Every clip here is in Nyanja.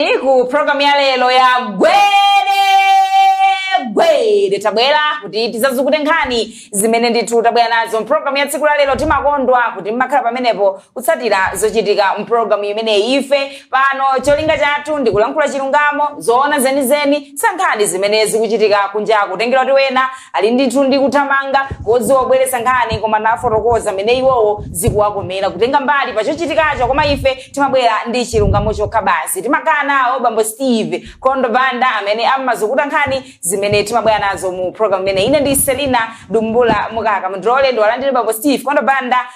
iku program ya lero ya gwede gwede tabwera kuti tizazukute nkhani zimene ndithu tabwera nazo mpulogalamu ya tsiku la lero timakondwa kuti mmakhala pamenepo kutsatira zochitika mpulogalamu imeneyi ife pano cholinga chathu ndi kulankhula chilungamo zoona zenizeni za nkhani zimene zikuchitika kunjaku kutengera kuti wena ali ndithu ndi kuthamanga kodziwa kubweretsa nkhani koma nafotokoza mmene iwowo zikuwakomera kutenga mbali pa chochitikacho koma ife timabwera ndi chilungamo chokha basi timakhala nawo bambo steve kondo banda amene amazukuta nkhani zimene timabwera nazo mu program imeneyi ine ndi selina dumbula mukaka mndilole ndiwalandire bambo steve kondo banda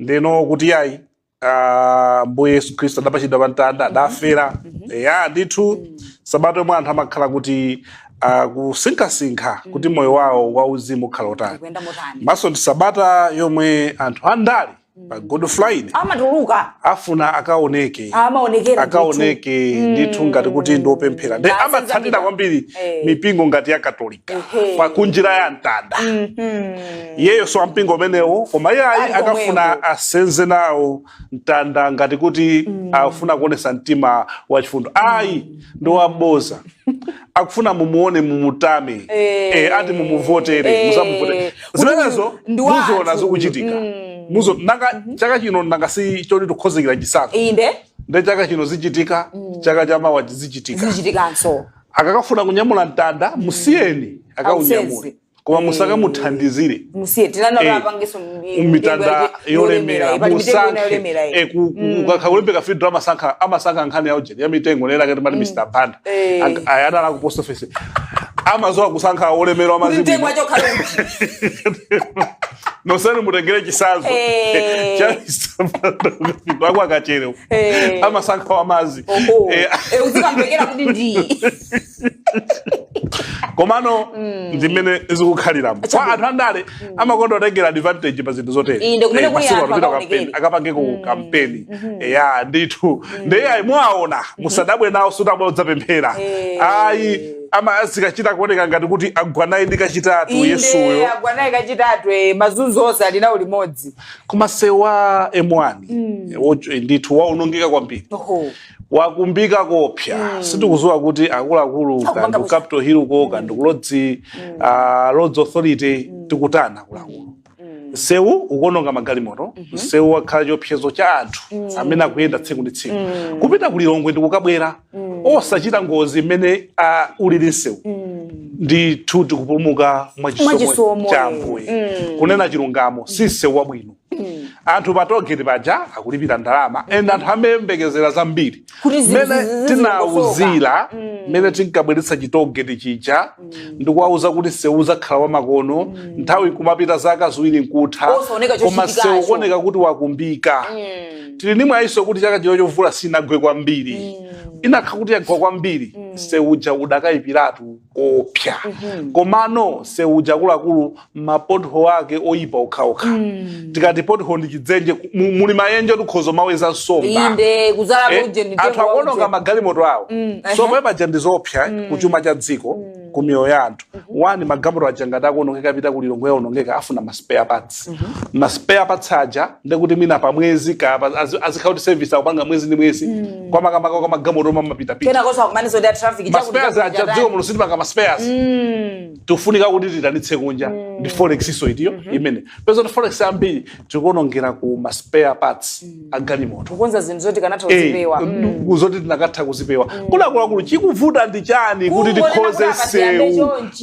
ndeno kuti yayi ah, mbuye yesu khristu adapachidwa pa mtanda adafera ya ndithu sabata yomwe anthu amakhala kuti ah, kusinkhasinkha kuti moyo wawo wauzimu ukhala wotani Ikuyenda motani? komanso ndi sabata yomwe anthu andale pa good friday Amatuluka afuna akaoneke amaonekera akaoneke ndithu ngati kuti ndiopemphera nde amatsatira zambiri. kwambiri Eh. mipingo ngati ya katolika Ehe. pa kunjira ya mtanda iyeyo si wampingo umenewo koma iye ayi Ali akafuna komweko. asenze nawo mtanda ngati kuti afuna kuonesa mtima wachifundo ayi ndi waboza akufuna mumuone mumutame Eh. eh, ati mumuvotere Eh. musamuvotere zimenezo Kuti ndi wathu. muziona zikuchitika muzo nanga chaka chino nanga si choti tikonzekera chisankho inde nde chaka chino zichitika chaka chamawa zichitika zichitikanso akakafuna kunyamula mtanda musiyeni akaunyamule Ausenze. koma Eh. musakamuthandizire musiye tinana Eh, apangenso mitanda yolemera musankhe Eh, ku- ku- ukakha kulembeka fidro amasankha amasankha nkhani ya ujeni ya mitengo lera kati mati mr banda Eh. Ak- aya adala ku post office amaziwa kusankha olemera wa mitengo mazimu yachokhala nonsenu mutengere chitsanzo Eh. chaisaakwa akachere Eh. amasankha wamazi Oho. Eh, Eh, uzikamvekera kuti ndi komano ndimene zikukhaliramo kwa Chabe. anthu andale amakonda kutengera advantage pa zinthu zotere Iyi ndi kumene Eh, kuli masiku anthu ano pita akaonekere. kampeni, akapange ku kampeni ya ndithu ndeye ayi mwaona musadabwe nawo sikuti abwera kudzapemphera Eh. ayi ama zikachita kuoneka ngati kuti agwa naye ndi kachitatu inde yesuyo agwa naye kachitatu eh, mazunzo onse ali nawo limodzi koma msewu wa m1 wo- ndithu waonongeka kwambiri Oho. wakumbika koopsa sitikuziwa kuti akuluakulu Akupanga kaya ndi ku bwino. capital hill ko kaya ndi ku roads ah, roads authority tikutani akuluakulu msewu ukuononga magalimoto msewu wakhala chiopsezo cha anthu amene akuyenda tsiku ndi tsiku kupita ku lilongwe ndi kukabwera osachita ngozi mmene ah, ulili msewu ndithu tikupulumuka mwa chisomo Mwachisomo, cha eh. ambuye kunena chilungamo si msewu wabwino anthu pa toll gate paja akulipira ndalama and anthu amayembekezera zambiri kuti zi- zi- mmene zi- zi- tinawauzira mmene tinkabweretsa chitogeti chija ndikuwauza kuti nsewu uzakhala wamakono nthawi kumapita zaka ziwiri nkutha Osaoneka koma chochitikacho. nsewu ukuoneka kuti wakumbika tili ndi mwayiso kuti chaka chino chimvula sinagwe kwambiri inakakhala kuti yagwa kwambiri nsewu uja udakayipiratu koopsya komano nsewu uja akuluakulu ma pothole ake oyipa okhaokha mm. tikati pothole ndi chidzenje ku- mu- muli mayenje oti ukhoza kumaweza nsomba inde kuzala Eh, kuje ndi anthu akuononga magalimoto awo Mm, so ehe. paja ndi zoopsa ku chuma cha dziko ku miyoyo ya anthu wani magalimoto aja ngati akuonongeka kupita ku lilongwe aonongeka afuna ma spare parts ma spare parts aja ndekuti mwina pa mwezi ka pa- azi- azikhala kuti service akupanga mwezi ndi mwezi kwa makamaka kwa magalimoto omwe amapitapita kena kosakumaniza ndi traffic ma chakuti spares aja dziko muno sitimanga ma spares tikufunika kuti tiitanitse kunja mm. ndi forex-nso itiyo mm -hmm. ndiye mupeza kuti forex ambiri tikuonongera ku ma spare parts mm. agalimoto kukonza zinthu zoti tikanatha eh, kuzipewa mm. zoti tinakatha kuzipewa mm. akuluakulu chikuvuta ndi chani kuti tikonze nsewu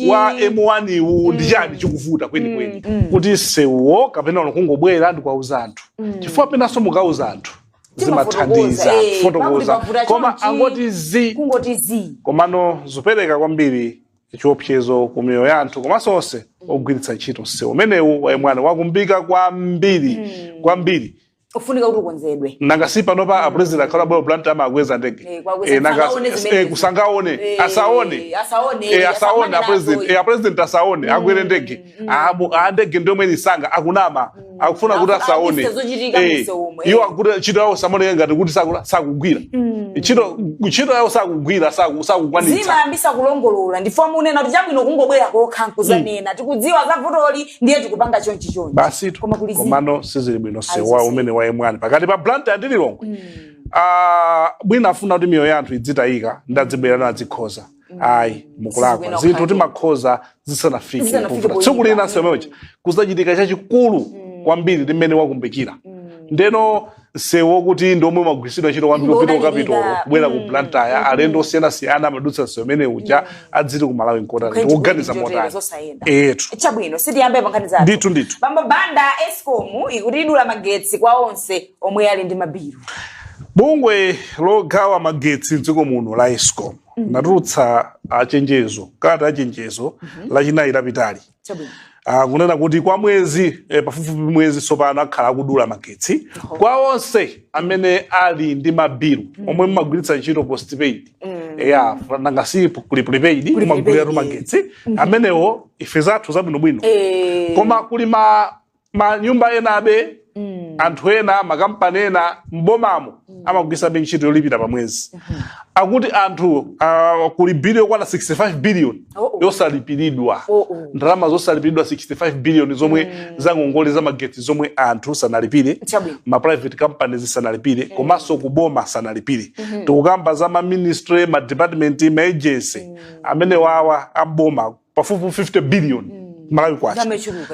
wa m1 wu ndi mm. chani chikuvuta kwenikweni mm. mm. kuti nsewuwo kapena ono kungobwera ndikuwauza anthu mm. chifukwa penanso mukauza anthu zimathandiza eh, fotokoza koma angoti zii komano zopereka kwambiri chiopsezo ku miyoyo ya anthu komanso onse ogwiritsa ntchito msewu umenewu wa M1 wakumbika kwambiri kwambiri ufunika kuti ukonzedwe nanga si panopa apulezidenti akamabwera blantyre amakwera ndege Eh, kuwakweza, Eh, nanga- sangaone eh, zimenezi. kuti asaone Eh, asaone asaone, Eh, asaone asakumane apulezidenti nazo. Eh, apulezidenti asaone akwere ndege Abu- andege ndiye mwina sanga akunama akufuna kuti Aku- asaone abise zochitika Eh, munsewumwe. iwo akuti ntchito yawo zamaoneka ngati kuti sakula- sakugwira ntchito ntchito yawo sakugwira saku- sakukwanitsa zimayambisa kulongolola ndife timanena kuti chabwino kungobwera kokha nkuzanena tikudziwa za vutoli ndiye tikupanga chonchi chonchi basitu koma kuli zii. komano sizili bwino nsewu Ayi, zisi. umene wa M1 pakati pa blantyre ndi lilongwe Ah, mwina afuna kuti miyoyo ya anthu idzitayika ndiye adzibwera nadzikonza ayi mukulakwa zinthu timakonza zisanafike tsiku lina nsewu umene uja kuzachitika chachikulu mm. kwambiri ndi mmene wakumbikira mm. ndiyeno msewu wokuti ndi omwe umagwiritsidwa ntchito kwambiri kupita kukapitolo kubwera ku mm. blantyre mm. alendo osiyanasiyana amadutsa msewu umene uja adziti ku malawi nkotani tikuganiza motani etu chabwino tiyambepo nkhani zathu ndithu ndithu bambo banda escom ikuti idula magetsi kwa onse omwe ali ndi mabilu bungwe logawa magetsi mdziko muno la escom Mhm. linatulutsa chenjezo kalata ya chenjezo Mhm. lachinayi lapitali Chabwino. kunena kuti kwa mwezi eh, pafupifupi mwezi tsopano akhala akudula magetsi kwa onse amene ali ndi mabilu omwe mumagwiritsa ntchito postpaid ya nanga si kuli prepaid mumaguliratu magetsi amenewo ife zathu zabwinobwino Eh. koma kuli ma manyumba enabe mm. anthu ena makampani ena m'bomamo mm. amagwiritsabe ntchito yolipira pa mwezi mm -hmm. akuti anthu uh, kuli bili yokwana 65 billion oh, oh. yosalipiridwa oh, oh. ndalama zosalipiridwa 65 billion zomwe mm. zangongole za magetsi zomwe anthu sanalipire ma private companies sanalipire mm. komanso kuboma sanalipire mm -hmm. tikukamba za ma ministry ma department ma agency mm. amene wawa amboma pafupifupi 50 billion mm. malawi kwacha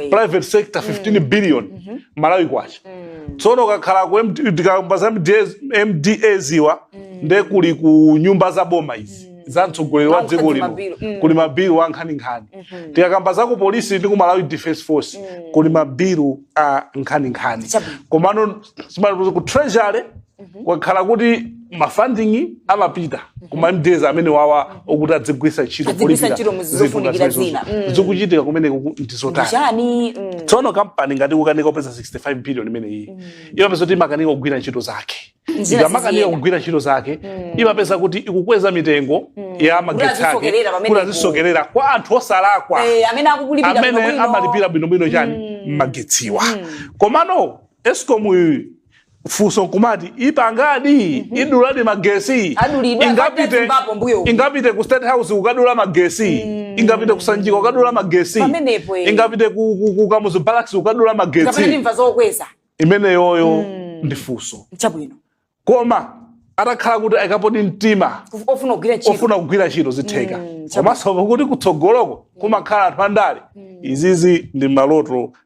private sector 15 mm. billion mm -hmm. malawi kwacha mm. tsono ukakhala kuti tikamba za mdas awa mm. nde kuli ku nyumba za boma izi mm. za mtsogoleri wa dziko lino mm. kuli mabilu a nkhaninkhani mm -hmm. tikakamba za ku polisi ndi ku malawi defense force mm. kuli mabilu a nkhaninkhani komano ku treasury Mhm. kwakhala kuti mafunding amapita mhm. kuma mdas amene wawa mhm. okuti adzigwiritsa ntchito zikuchitika kumeneko ndizotani mm. tsono kampani ngati kukanika kupeza 65 billion imene iyi mm. imapezeka kuti imakanika kugwira ntchito zake ikamakanika kugwira ntchito zake mm. imapezeka kuti ikukweza mitengo ya magetsi ake kuti azisokerera kwa anthu osalakwa eh, amene amalipira bwinobwino chani magetsiwa komano escom funso nkumati ipangadi mhm. iduladi magetsi ingapite, ingapite ku state house kukadula magetsi mm. ingapite ku sanjika kukadula magetsi eh. ingapite ku, ku, ku kamuzu barracks kukadula magetsi imeneyoyo mm. ndi funso koma atakhala kuti ayikapodi mtima ofuna kugwira ntchito zitheka mm, komanso kuti kutsogoloko kumakhala anthu andale mm. izizi ndi maloto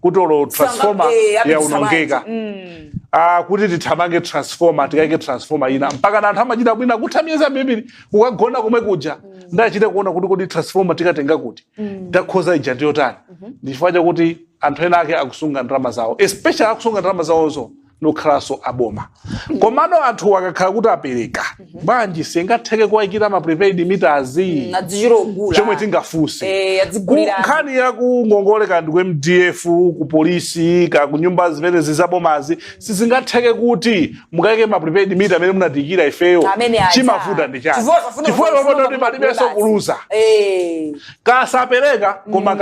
kuti olo Sanga- transformer eh, apitisa yaonongeka Ah, kuti tithamange transformer tikaike transformer ina mpaka na anthu amachita mwina kutha miyezi ambiri kukagona komwe kuja ndachite kuona kuti kodi transformer tikatenga kuti takhoza ija ndiyotani ndi chifukwa chakuti anthu ena ake akusunga ndalama zawo especially akusunga ndalama zawozo nkukhalanso aboma komano anthu akakhala kuti apereka bwanji singatheke kuwaikira ma prepaid meters Mm, adzichita ogula chomwe tingafunse Eh, adzigulira. Ku- nkhani ya kungongoleka ndi ku mdf ku polisi ka ku nyumba zimene zizabomazi sizingatheke kuti mukaike ma prepaid meter amene munatiikira ifeyo Amene aja. chimavuta ndi chani Chifukwa akafuna chifukwa kufuna pamodoti kufuna palibenso kugula kuluza Eh. kasapereka koma mm.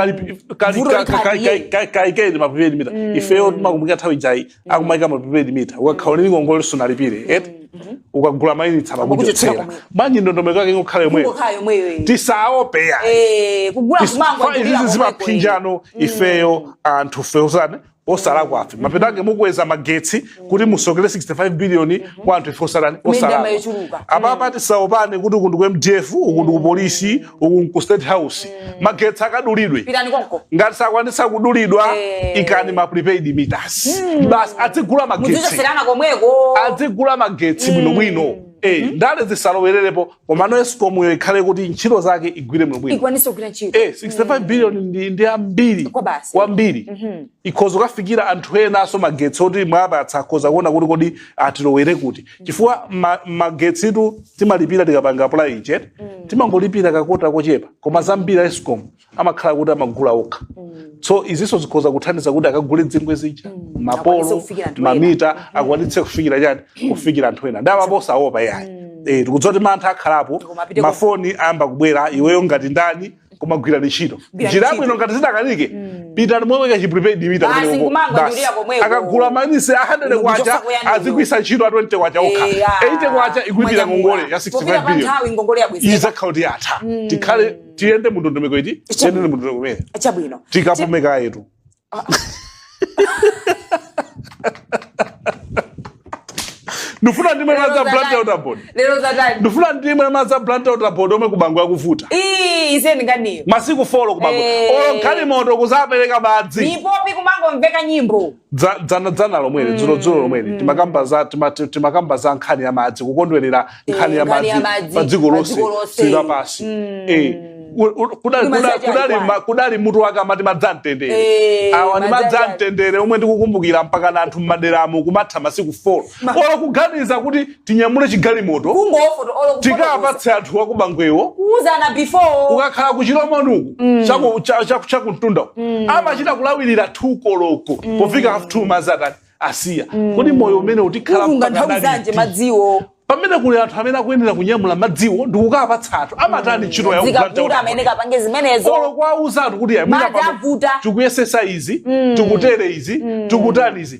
kaikeni maprepaid mita mm. ifeyo timakumbukira nthawi ijayi mm. akumaika maprepaid mita ukakhala ndi ngongole sunalipire eti mm-hmm. ukagula mayunitsi amakuchotsera bwanji ndondomeko yake ingokhala yomweyo tisaope yayi eh, izi zimaphinjano ifeyo anthu feyo sani osalakwafe mapeto ake mukweza magetsi kuti musokere 65 billion kwa anthu ife osalani Ndalama osalakwa yochuluka. apapa tisaopane kuti uku ndi ku mdf uku ndi ku polisi uku ndi ku state house magetsi akadulidwe pitani konko ngati sakwanitsa kudulidwa Eh. ikani ma prepaid meters basi adzigula magetsi muzichoserana komweko adzigula magetsi bwinobwino Eh, ndale zisalowererepo komano escom yo ikhale kuti ntchito zake igwire bwinobwino ikwanise kugwira ntchito eh 65 billion ndi ndi ambiri Kwabasi. kwambiri ikhoza kukafikira anthu enanso magetsi oti mwapatsa akhoza kuona kuti kodi atilowere kuti chifukwa ma- magetsitu timalipira tikapanga apulayiche timangolipira kakota kochepa koma zambiri a escom amakhala kuti amagula okha so izinso zikhoza kuthandiza kuti akagule zingwe zija Akwanitse mapolo kufikira anthu ena. mamita akwanitse kufikira chani kufikira anthu ena nde apapa osaopa yayi Eh, tikudziwa kuti mantha akhalapo Koma apite ku- mafoni ayamba kubwera iweyo ngati ndani kumagwira ntchito Gwira njira ntchito. bwino ngati zitakanike pitani mumuike chiprepaid mita Basi kumeneko. kumangwanyulira Basi. komweko. akagula maunitsi 100 Kuchosa kwacha kuyani. azigwisa ntchito a 20 kwacha okha Eh, ah. 80 kwacha ikulipira Mwanyamula. ngongole ya Pofika 65 pa billion nthawi ngongole yabwezera izakhauti yatha tikhale tiyende mundondomeko iti tiyende mundondomeko imene chabwino tikapume kayetu ndifuna ndimwe Lero madzi a blantyre zatani? water board lero zatani ndifuna ndimwe madzi a blantyre water board omwe ku bangwe akuvuta Ii, aise ndi nkhaniyo masiku 4 ku bangwe Eh. olo galimoto kuzapereka madzi mipopi kumangomveka nyimbo Dza- dzana dzana lomweli dzulo dzulo lomweli timakamba za tima- ti- timakamba za nkhani ya madzi kukondwerera nkhani ya nkhani ya madzi madzi pa dziko pa lonse dziko lonse. dziko lapansi Eh, u- u- kudali- Kudali kudali- kudali chaiwani. ma- kudali mutu wake amati madzi amtendere Eh, awa ni madzi madzi a- amtendere omwe tikukumbukira mpakana anthu m'maderamu kumatha masiku 4 olo kuganiza kuti tinyamule chigalimoto kungofoto olo kufotokoza tikapatse anthu a ku bangwewo kuuzana before ukakhala ku chilomoni uku chaku- cha- cha- chakumtunda uku amachita kulawirira 2 koloko pofika half 2 madzi atani asiya kodi moyo umene utikhala kulunga mpaka nthawi zanji ndaliti? madziwo pamene kuli anthu amene akuyenera kunyamula madziwo ndikukapatsa anthu amatani ntchito yawo zikavuta amene kapange zimenezo olo kwauza anthu kuti Madzi avuta. tikuyesesa izi tikutere izi tikutani izi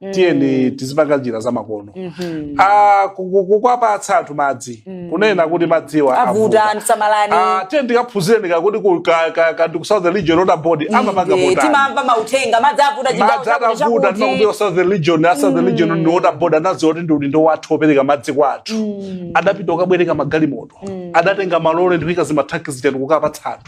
mm. tiyeni tizipanga njira zamakono mm -hmm. Ah, kukwapatsa anthu madzi mm. kunena kuti madziwa avuta ah, tiyeni tikaphunzireniko kuti ku southern region water board mm, amapanga eh, timamva mauthenga madzi avuta madzi atavuta timakuti southern region a southern region mm. ndi water board anaziwa kuti ndi udindo wathu opereka madzi kwa anthu mm. adapita ukabwereka magalimoto mm. adatenga malole ndikuika zimathanki zija ndi kukapatsa anthu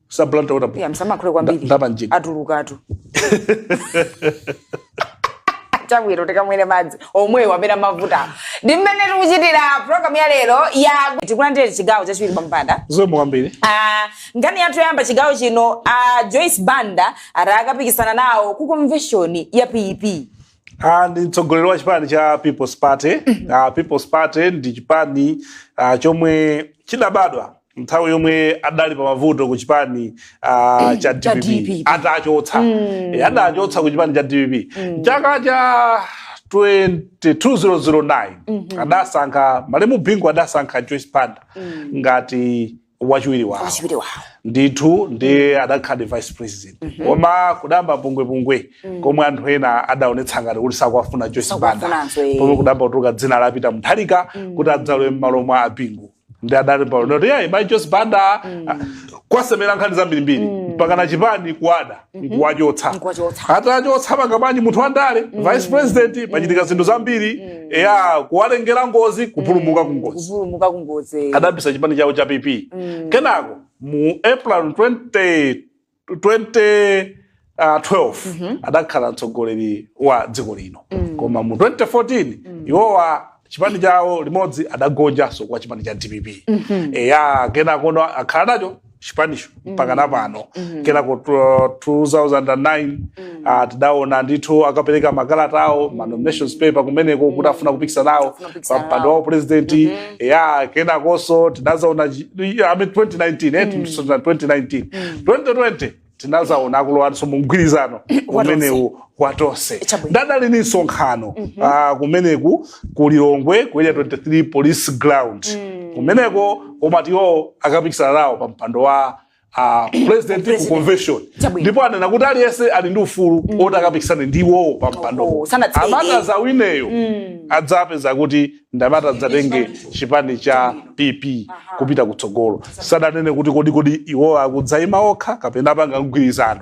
sa Blantyre Water Board Yeah, msamayankhule kwambiri Nda- ndapa mjigo. atulukatu chabwino tikamwere madzi omwewo amene amavuta ndi mmene tikuchitira programu ya lero ya tikulandire chigawo chachiwiri pampanda zomwe kwambiri Ah, nkhani yathu yoyamba chigawo chino a joyce banda ati akapikisana nawo ku convention ya pp Ah, ndi mtsogoleri wa chipani cha people's party Ah, people's party ndi chipani ah, chomwe chidabadwa nthawi yomwe adali pa mavuto ku chipani ah, cha Cha dpp DPP. atachotsa Eh, adachotsa ku chipani cha dpp chaka cha 2009 adasankha malemu bingu adasankha joyce banda ngati wachiwiri wawo wachiwiri wawo ndithu ndiye adakhala vice president koma kudayamba pungwepungwe komwe anthu ena adaonetsa ngati kuti sakuwafuna joyce banda Sakuwafunanso, eh. pomwe kudayamba kutuluka dzina la peter mutharika kuti adzalowe m'malo mwa a bingu ndi adali paulendo oti yayi mayi joyce banda kuwasemera nkhani zambirimbiri mpaka na chipani kuwada nkuwachotsa Nkuwachotsa. atawachotsa apanga bwanji munthu wandale vice president pachitika zinthu zambiri eya kuwalengera ngozi kupulumuka ku ngozi kupulumuka ku ngozi adayambitsa chipani chawo cha pp kenako mu april 20 2012 adakhala mtsogoleri wa dziko lino koma mu 2014 iwowa chipani chawo limodzi adagonjanso kwa chipani cha dpp eya kenakono akhala nacho chipanicho mpaka napano kenako 2009 Ah, tidaona ndithu akapereka makalata awo ma nominations paper kumeneko kuti afuna kupikisana nawo Afuna kupikisana pa mpando nawo. wa upresident ya kenakonso tinazaona chi- i- I mean 2019 eh, timusonera 2019 2020 tinazaona akulowanso mu mgwirizano umenewu wa tonse Chabwino. ndiye adali ni msonkhano ah, kumeneku ku lilongwe ku area 23 police ground kumeneko nkumati iwo akapikisana nawo pa mpando wa upresident ku convention Chabwino. ndipo anena kuti aliyense ali ndi ufulu oti akapikisane ndi iwowo pa mpando Oho, sanatseke. amene atadzawineyo adzapeza kuti ndi amene atadzatenge chipani cha pp kupita kutsogolo sadanene kuti kodi kodi iwowo akudzaima okha kapena apanga mgwirizano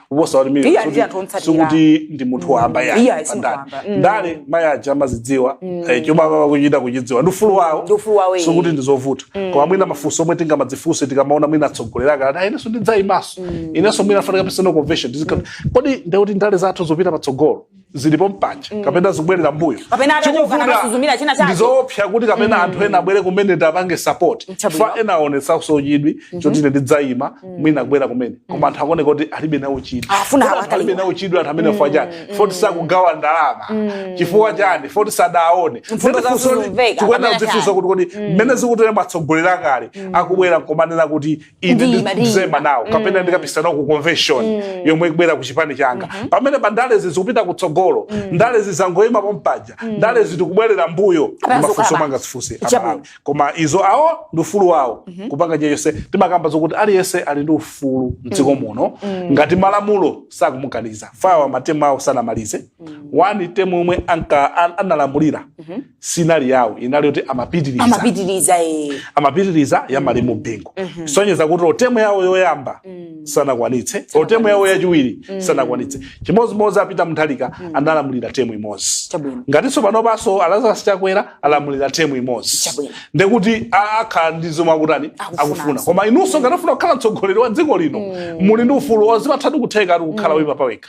kuposa 1 million Iye ali ndi anthu omtsatira. sikuti ndi munthu wamba Iye yayi ali si munthu pandale wamba. Mm. ndale mayi aja amazidziwa eh, chomwe amaba kuchita kuchidziwa ndi ufulu wawo Ndi ufulu wawo, eh. sikuti ndi zovuta koma mwina mafunso omwe tingamadzifunse tikamaona mwina atsogoleri akati "Ah, inenso ndidzayimanso inenso mwina afanika personal convention Ndizikhala- kodi ndekuti ndale zathu zopita patsogolo zili pompaja mm. kapena zikubwerera mbuyo ndizoopsa kuti kapena mm. anthu ena abwere kumene tiwapange support fukwa ena aonetsanso chidwi mm-hmm. choti ine ndidzayima mm. mwina akubwera kumene koma mm. anthu akuoneka kuti alibe nawo chidwi ah, alibe nawo chidwi anthu amenewa fukwa chani foti sakugawa ndalama chifukwa chani foti sadaone tikuyenera kudzifunsa kuti kodi mmene zikuteremu atsogoleri akale akubwera nkumanena kuti ine Ndi Maria. ndidzaima nawo kapena ndikapikisana nawo ku convention yomwe ikubwera ku chipani changa pamenepa ndalezi zikupita kutsogolo ndalezi zangoyima pompaja ndalezi zikubwerera mbuyo Kapena mafunso zokaba. manga zifunseni Chabwino. amalawi koma izo awo ndi ufulu wawo kupanga chilichonse timakamba zokuti aliyense ali ndi ufulu mdziko muno ngati malamulo sakumukaniza chifukwa awa matemu awo sanamalize wani temu omwe anka- an- analamulira siinali yawo inali yoti amapitiriza amapitiriza eh. amapitiriza ya malemu bingu kusonyeza kuti olo temu yawo yoyamba sanakwanitse olo temu yawo yachiwiri sanakwanitse chimodzimodzi a Peter Mutharika analamulira temu imodzi Chabwino. ngatinso panopanso a Lazarus Chakwera alamulira temu imodzi Chabwino. ndekuti a- akhala ndi zomwe akutani Akufuna. akufuna koma inunso ngati mufuna kukhala mtsogoleri wa dziko lino muli ndi ufulu ozipathatu kutheka ati kukhala wipa pawekha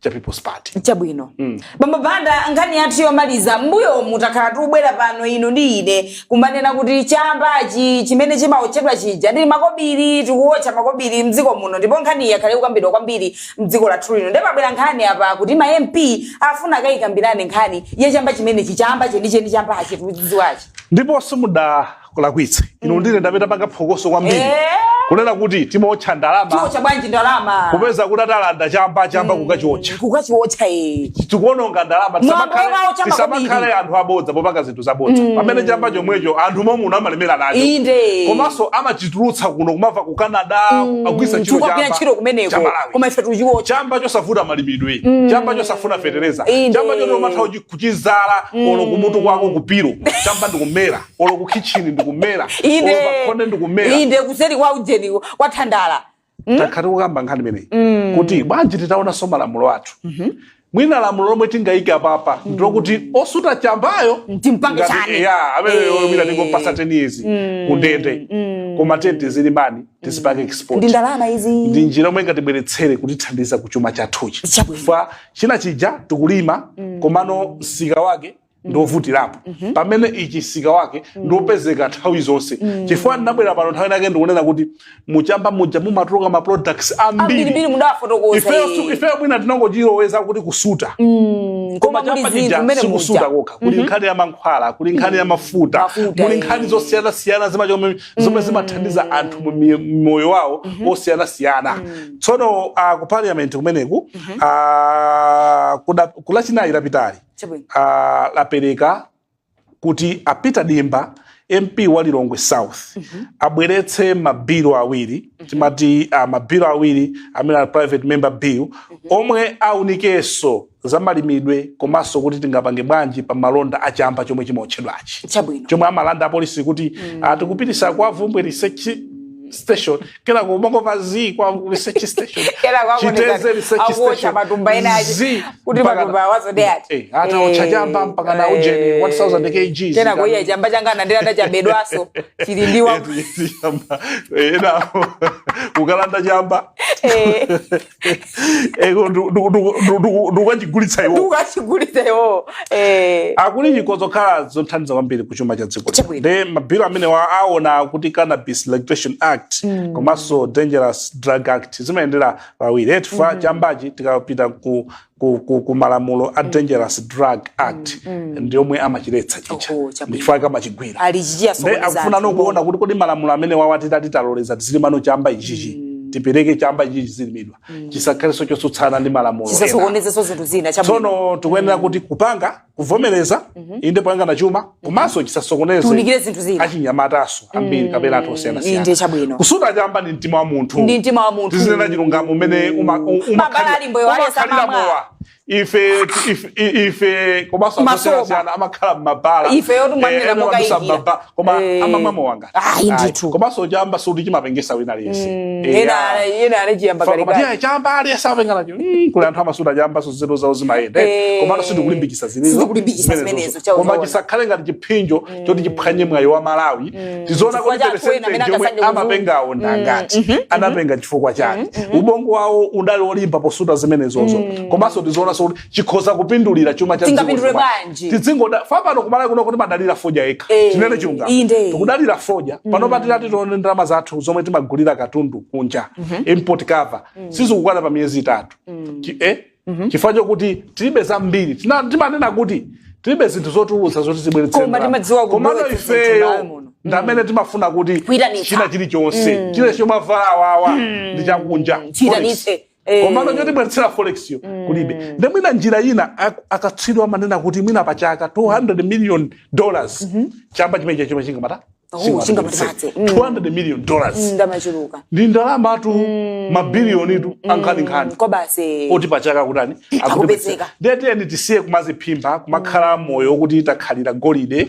cha people's party chabwino mm. bambo banda nkhani yathu yomaliza m'mbuyomu takhala tikubwera pano inu ndi ine kumanena kuti chambachi chimene chimaotchedwa chija ndi makobiri tikuotcha makobiri mdziko muno ndipo nkhani yakhala ikukambidwa kwambiri mdziko lathu lino ndiye pabwera nkhani apa kuti ma mp afuna akayikambirane nkhani ya chamba chimenechi chamba chenicheni chambachi tikuchidziwachi ndipo simuna kulakwitse inu mm. ndine nd'amene tapanga phokoso kwambiri eh. kunena kuti timaotcha ndalama bwanji ndalama kupeza kuti atalandidwa chamba chamba mm. kukachiotcha kukachiotcha eh. tikuononga ndalama tisamakhale anthu abodza popanga zinthu zabodza mm. pamene chamba chomwecho anthu mommuno amalemera nacho komanso amachitulutsa kuno kumapita ku canada mm. akugwiritsa ntchito kumeneko koma ife tikuchiotcha chamba chosavuta malimidwe mm. chamba chosafuna fetereza chamba choti umatha kuchidzala mm. olo kumutu kwako ku pillow chamba ndikumera olo ku kitchen ndikumera olo pa inde khonde ndikumera inde kuseri kwa ujeni kwa thandala takhala tikukamba nkhani imeneyi kuti bwanji titaonanso malamulo athu mwina lamulo lomwe tingayike apapa ndilokuti osuta chambayo Timpange ngati- chani. ya amene Eh. mwina tingompatsa 10 years kundende koma tiye tizilima ndi tizipanga export ndi ndalama izi ndi njira yomwe ingatibweretsere kutithandiza ku chuma chathuchi Chabwino. chifukwa chinacho chija tikulima komano msika wake Mm. ndiovutirapo mm -hmm. pamene ichi msika wake mm. ndiopezeka nthawi zonse mm. chifukwa ndinabwera pano nthawi inayake ndikunena kuti muchamba muja mumatuluka ma products ambiri ifeyo mwina tinangochizolowera kuti kusuta mm. koma chamba chija sikusuta kokha kuli mm -hmm. nkhani ya mankhwala kuli nkhani mm. ya mafuta kuli nkhani eh. zosiyana siyana zima chomwe zomwe mm. zimathandiza anthu mu moyo wawo mm -hmm. osiyana siyana mm. tsono uh, ku parliament kumeneko mm -hmm. uh, ku Lachinayi lapitali Chabwino. ah, yapereka kuti a peter dimba mp wa lilongwe south abweretse mabilo awiri timati ah, mabilo awiri amene ali private member bill omwe aunikenso za malimidwe komanso kuti tingapange bwanji pa malonda a chamba chomwe chimaotchedwachi Chabwino. chomwe amalanda apolisi kuti mm. tikupititsa kwa Bvumbwe research station kenako umangomva za kwa research station Kera kwa Chitedze kuoneka research akuotcha station. matumba ena aja Zi, kuti mpaka- matumba awazo de ati. Eh, ataotcha Eh, chamba mpaka na ujeni eh. 1000 kgs. Kera kwa iye chamba changa nandira tachabedwaso chili ndiwa Eti, chamba. Eh, enawo kukalanda chamba Eh. ego ndu- ndu- ndu- ndu- ndu- ndukachigulitsa iwo ndukachigulitsa iwowo Eh, akuti chikhoza kukhala zothandiza kwambiri ku chuma cha dziko Chabwino. nde mabilu amenewa aona kuti cannabis legislation act komanso dangerous drug act zimayendera pawiri chifukwa chambachi tikapita ku ku, ku, ku malamulo a dangerous drug act ndi omwe amachiletsa chija Oho, chabwino. ndichifukwa chake amachigwira ali nde chichiyasokoneza akufunano kuona kuti kodi malamulo amenewawa titati taloleza tizilimano chamba ichichi tipereke chamba ichichi chizilimidwa chisakhalenso chotsutsana ndi malamulo ena chisasokonezeso zinthu zina chabwino tsono tikuyenera kuti kupanga kuvomereza mhm. inde poyang'ana chuma mhm. komanso chisasokoneze zinthu zina achinyamataso ambiri mm. kapena anthu osiyanasiyana kusuta chamba ndi mtima wa munthu ndi mtima wa munthu tizinena chilungamo umene umakhalira mowa ife ife komanso anthu osiyanasiyana amakhala m'mabala eh, koma eh. amamwa mowa ayi ndithu komanso chamba sikuti chimapengesa wina aliyense Mm, Eya. ena ena anachiyamba Faka kalekale matiya chamba aliyense apenga nacho Mm, kuli anthu amasuta chambanso nzeru zawo zimayenda Eh. komano sindikulimbikisa zimenezo Sindikulimbikisa zimenezo, zimenezo chao koma zoona. chisakhale ngati chiphinjo choti chiphwanye mwayi wa malawi tizoona Chifukwa kuti cha anthu ena amene peresenti yomwe angasaidwe amapengawo ndangati anapenga chifukwa chani ubongo wawo udali olimba posuta zimenezozo komanso tizoonanso kuti chikhoza kupindulira chuma cha dziko Tingapindule chuma. bwanji? tidzingoda chifukwa pano ku Malawi kuno timadalira fodya yekha Eh, tinene chilungamo inde. tikudalira fodya panopa titati tione ndalama zathu zomwe timagulira katundu kunja import cover sizikukwana pa miyezi itatu Chi- eh? chifukwa chokuti tilibe zambiri Tina- timanena kuti tilibe zinthu zotulutsa zoti zibweretse Koma ndalama. timadziwa Komano kubweretsa zinthu ifeyo ndalama muno. ndamene timafuna kuti Kuyitanitsa. china chilichonse chile chomavalawawa ndi chakunja Chiyitanitse. Eh. komano chotibweretsera forex yo mm. kulibe nde mwina njira ina ak- akatswiri amanena kuti mwina pa chaka 200 million dollars chamba chimenechi chingamata Oh, chingamapatse. Mm. 200 million dollars ndamachuluka ndi ndalamatu mabiliyonitu ankhaninkhani kwa basi oti pachaka kutani Akupezeka. nde tiyeni tisiye kumaziphimba kumakhala moyo okuti takhalira golide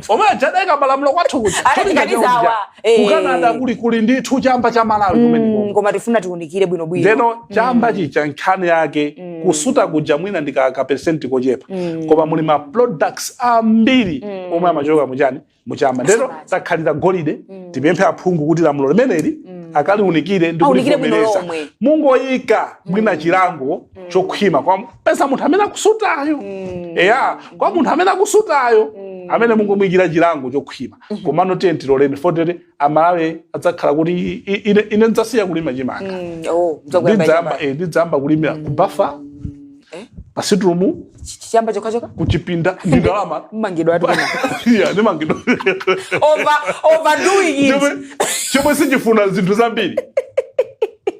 omwe aja adaika malamulo kwathu kuja Ati Cholinga chawo kuganiza kuja. awa, eh. ku canada kuli kuli ndithu chamba cha malawi Mm, kumeneko koma tifuna tiunikire bwino bwino ndeno chamba chija nkhani yake kusuta kuja mwina ndi ka- ka percent kochepa koma muli ma products ambiri omwe amachoka muchani muchamba ndeno Asabati. takhalira golide tipemphe aphungu kuti lamulo limeneli akaliunikire ndi Aunikire bwino kulivomereza lomwe. mungoyika mwina chilango chokhwima kwa peza munthu amene akusutayo mm. eya kwa munthu amene akusutayo mm. ameneyo mungomuyikira chilango chokhwima mm -hmm. komano tiye tiloleni fotete amalawi adzakhala kuti ine, ine ndidzasiya kulima chimanga mm. oh, ndidzayamba eh, kulimira mm. kubafa eh? pasiturumu chamba chokhachokha kuchipinda ndi ndalama mmangidwa ati yeah ndimangidwa over overdoing it chomwe sichifuna zinthu zambiri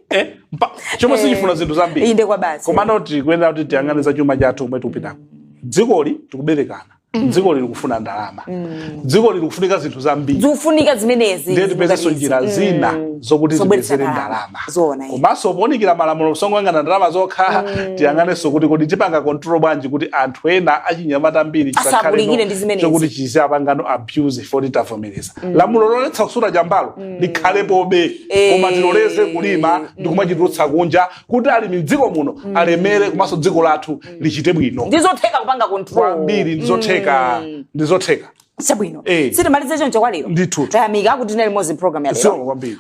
eh Mpa- chomwe sichifuna zinthu zambiri inde kwa basi komano tikuyenera kuti tiyang'ane za chuma chathu kumwe tikupitako dzikoli tikuberekana dzikoli likufuna ndalama dzikoli likufunika zinthu zambiri zikufunika zimenezi ndiye tipezenso zikuganiza. njira Mm. zina zokuti Zobweretsa tipezere ndalama. ndalama Zoona, iye. komanso ponikira malamulo osangoyang'ana ndalama zokha tiyang'anenso kuti kodi tipanga control bwanji kuti anthu ena achinyamata ambiri asabalalikire ndi zimenezi. chokuti chiziyapangano abuse poti tavomereza mm. lamulo loletsa kusuta chambalo mm. likhalepobe eh. koma tiloleze kulima mm. ndi kumachitulutsa kunja kuti alimi mdziko muno mm. alemere komanso dziko lathu mm. lichite bwino ndizotheka kupanga control kwambiri ndizotheka mm. ndizotheka chabwino eh. titimalize choncho kwa lero ndithu tayamika kuti tinali limodzi program ya lero